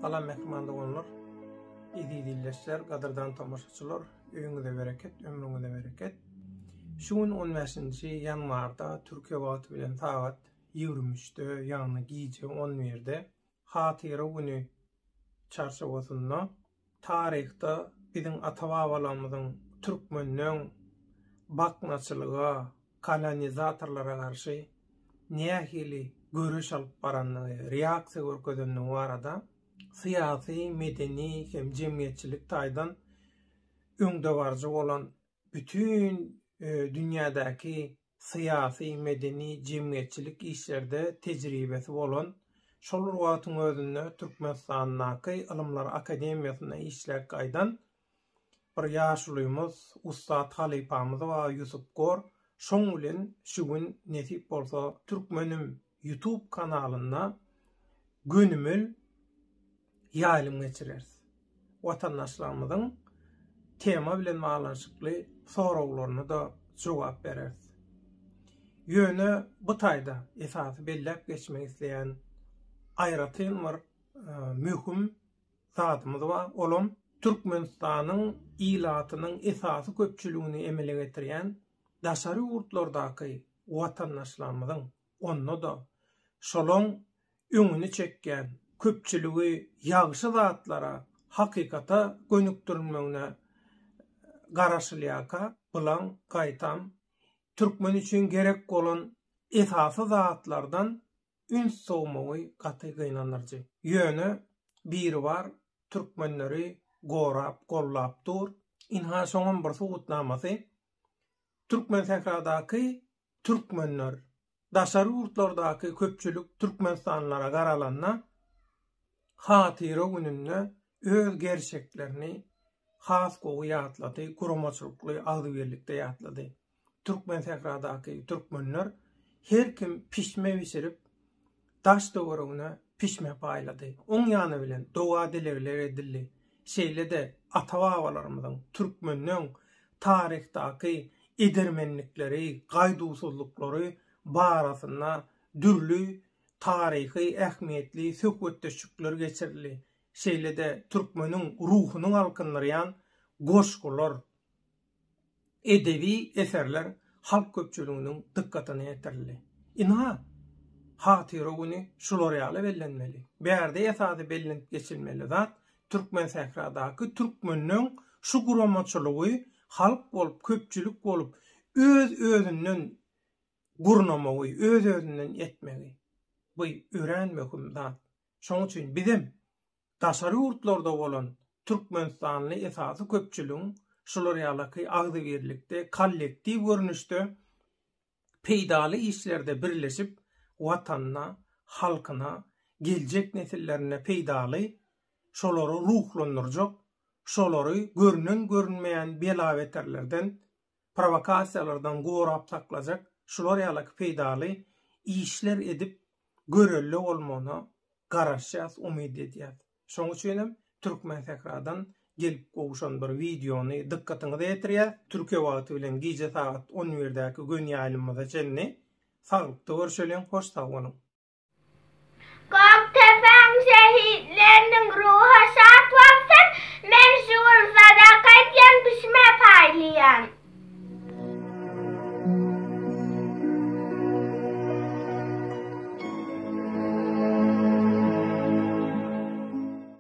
Salam mehman doganlar. Eziz ildeşler, gadyrdan tomaşaçylar, öýüňize bereket, ömrüňize bereket. Şu gün 15-nji ýanwarda Türkiýe wagty bilen sagat 23-de, ýagny gije 11-de Hatyra güni çarçuwasynda taryhda biziň ata-babalarymyzyň türkmenden baknaçylyga, kolonizatorlara garşy nähili göreş alyp barandygy, reaksiýa görkezendigi barada syýasy, medeni hem jemgyýetçilik taýdan öňdebaryjy bolan bütin dünýädäki syýasy, medeni, jemgyýetçilik işlerde tejribesi bolan, şol bir wagtyň özünde Türkmenistandaky Ylymlar akademiýasynda işläp gaýdan bir ýaşulymyz, ussat halypamyz bar Ýusup Gor. Şoň bilen şu gün nesip bolsa Türkmenim! YouTube kanalynda gönümel ýaýlym geçireris. Watandaşlarymyzyň tema bilen baglanyşykly soraglaryna-da jogap bereris. Ýöne bu taýda esasy belläp geçmek isleýän aýratyn bir e, möhüm zadymyz bar. Olam Türkmenistanyň ilatynyň esasy köpçüligini emele getirýän daşary ýurtlardaky watandaşlarymyzyň, onda-da şolaň öňüni çekýän köpçüligi ýagşy zatlara, hakykata gönükdirmegine garaşylýarka, bulaň gaýtam türkmen üçin gerek bolan esasy zatlardan üns sowmagy gaty gynandyryjy. Ýöne Biribar türkmenleri gorap, gollap dur. Ynha şoňam bir subutnamasy. Türkmensähradaky türkmenler, daşary ýurtlardaky köpçülik türkmenistanlylara garalanda, Hatyra gününde öz gerçeklerini has gowy ýatlady, guramaçylykly, agzybirlikde ýatlady. Türkmensähradaky türkmenler her kim pişme bişirip, daş-töweregine pişme paýlady. Oň ýany bilen doga-dilegler edildi. Şeýle-de ata-babalarymyzyň türkmeniň taryhdaky edermenlikleri, gaýduwsyzlyklary barasynda dürli taryhy ähmiýetli söhbetdeşlikler geçirildi. Şeýle-de türkmeniň ruhuny galkyndyrýan goşgular, edebi eserler halk köpçüliginiň dykgatyna ýetirildi. Ynha, Hatyra güni şular ýaly bellenmeli. Bärde esasy bellenip geçilmeli zat, Türkmensähradaky türkmeniň şu guramaçylygy halk bolup, köpçülik bolup, öz-özünden gurnamagy, öz-özünden etmegi. Bu örän möhüm zat. Şonuň üçin bizem Daşary ýurtlarda bolan türkmenistanly esasy köpçüligiň şular ýalaky agzybirlikde, kollektiw görnüşde peýdaly işlerde birleşip, Watanyna, halkyna, geljek nesillerine peýdaly, şolary ruhlandyrjak, şolary görnen-görünmeýän bela-beterlerden, prowokasiýalardan gorap saklajak şular ýalaky peýdaly işler edip görelde bolmagyna garaşýas umyt edýäs. Şoň üçinem Türkmensähradan gelip gowşan bir wideony dykgatyňyza ýetirýäs. Türkiýe wagty bilen gije sagat on birdäki gönýaýlymyza çenli saglykda görşeliň hoş sag boluň. Gökdepäň şehitleriniň ruhy şat bolsun, men şu gün sadaka edýän bişime paýlaýan.